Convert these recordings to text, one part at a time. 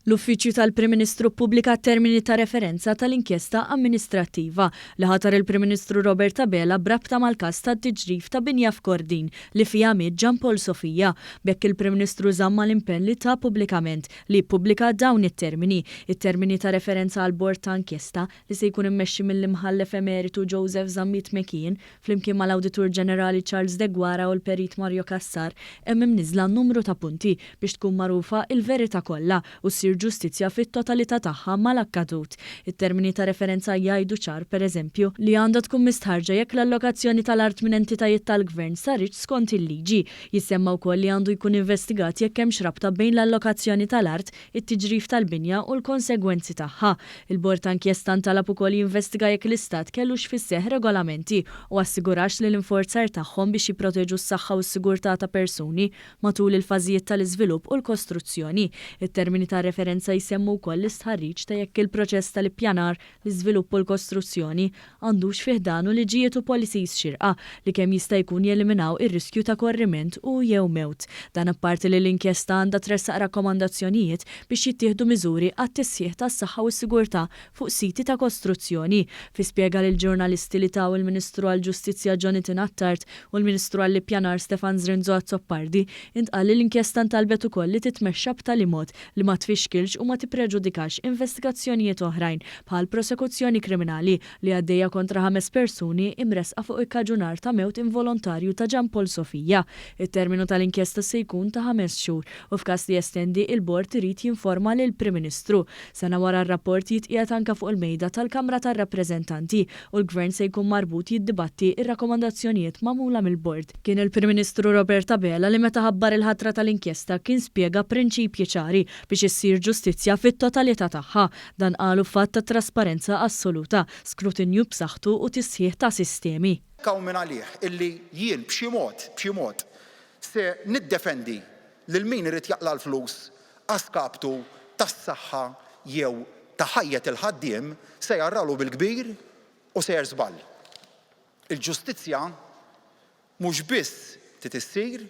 L-Uffiċċju tal-Prim Ministru ppubblika t-termini ta' referenza tal-inkjesta amministrattiva li ħatar il-Prim Ministru Robert Abela b'rabta mal-każ tat-tiġrif ta' binja f'Kordin li fiha miet Jean Paul Sofia. B'hekk il-Prim Ministru żamm mal-impenn li ta pubblikament li jippubblika dawn it-termini, it-termini ta' referenza għall-Bord ta' Inkjesta li se jkun immexxi mill-Imħallef Emeritu Joseph Zammit McKeon, Flimkien mal-Awditur Ġenerali Charles Deguara u l-Perit Mario Cassar, hemm imniżżla numru ta' punti biex tkun magħrufa l-verità kollha u ssir ġustizzja fit-totalità tagħha mal-akkadut. It-termini ta' referenza jgħidu ċar, pereżempju, li għandha tkun mistħarrġa jekk l-allokazzjoni tal-art minn entitajiet tal-Gvern saritx skont il-liġi. Jissemma wkoll li għandu jkun investigat jekk hemmx rabta bejn l-allokazzjoni tal-art it-tiġrif tal-binja u l-konsegwenzi tagħha. Il-Bord ta' Inkjesta ntalab ukoll jinvestiga jekk l-Istat kellux fis-seħħ regolamenti u assigurax li l-infurzar tagħhom biex jipproteġu s-saħħa u s-sigurtà ta' persuni matul il-fażijiet tal-iżvilupp u l-kostruzzjoni. It-termini ta' referenza jsemmu wkoll l-istħarriġ ta' jekk il-proċess tal-ippjanar l-iżvilupp u l-kostruzzjoni, għandux fi ħdanu liġijiet u policies xierqa li kemm jista' jkun jeliminaw ir-riskju ta' korriment u, jew mewt. Dan apparti li l-inkjesta għandha tressaq rakkomandazzjonijiet biex jittieħdu miżuri għat-tisħiħ tas-saħħa u s-sigurtà fuq siti ta' kostruzzjoni. Fi spjega lill-ġurnalisti li taw il-Ministru għall-Ġustizzja Jonathan Attard u l-Ministru għall-Ippjanar Stefan Zrinzo Azzopardi, intqal li l-inkjesta ntalbet ukoll li titmexxa b'tali mod li ma tfixkilx u ma tippreġudikax investigazzjonijiet oħrajn, bħal prosekuzzjoni kriminali li għaddejja kontra ħames persuni imressqa fuq ikkaġunar ta' mewt involontarju ta' Jean Paul Sofia. It-terminu tal-inkjesta se jkun ta' ħames xhur u f'każ li jestendi, il-Bord irid jinforma lill-Prim Ministru. Sena wara r-rapport jitqiegħed anke fuq il-mejda tal-Kamra tar-Rappreżentanti u l-Gvern se jkun marbut jiddibatti r-rakkomandazzjonijiet magħmula mill-Bord. Kien il-Prim Ministru Robert Abela li meta ħabbar il-ħatra tal-inkjesta kien spjega prinċipji ċari biex issir ġustizzja fit-totalità tagħha. Dan qalu f'att ta' trasparenza assoluta, skrutinju b'saħħtu u tisħiħ ta' sistemi. Hawn mingħalih illi jien b'xi mod, b'xi mod, se niddefendi lil min irid jaqla' l-flus a skaptu tas-saħħa jew ta' ħajjet il-ħaddiem se jgħarrgħalu bil-kbir u sejjer żball. Il-ġustizzja mhux biss trid issir,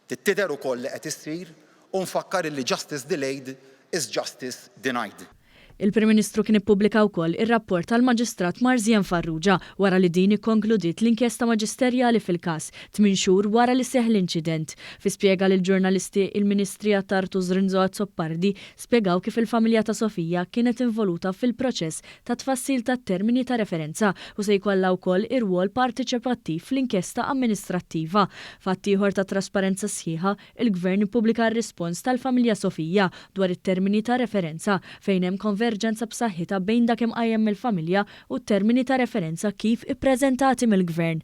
trid tidher ukoll li qed issir u nfakkar illi justice delayed is justice denied. Il-Prim Ministru kien ippubblika wkoll ir-rapport tal-Maġistrat Marzien Farrugia wara li din ikkonkludiet l-inkjesta maġisterjali fil-każ, tmien xhur wara li seħħ l-inċident. Fi spjega lill-ġurnalisti, il-Ministri Attard u Zrinzo Azzopardi spjegaw kif il-familja ta' Sofia kienet involuta fil-proċess ta' tfassil tat-termini ta' referenza u se jkollha wkoll irwol partiċipattiv fl-inkjesta amministrattiva. F'att ieħor ta' trasparenza sħiħa, il-Gvern ippubblika r-rispons tal-familja Sofia dwar it-termini ta' referenza, fejn hemm konverġenza b'saħħitha bejn dak imqajjem mill-familja u t-termini ta' referenza kif ippreżentati mill-Gvern.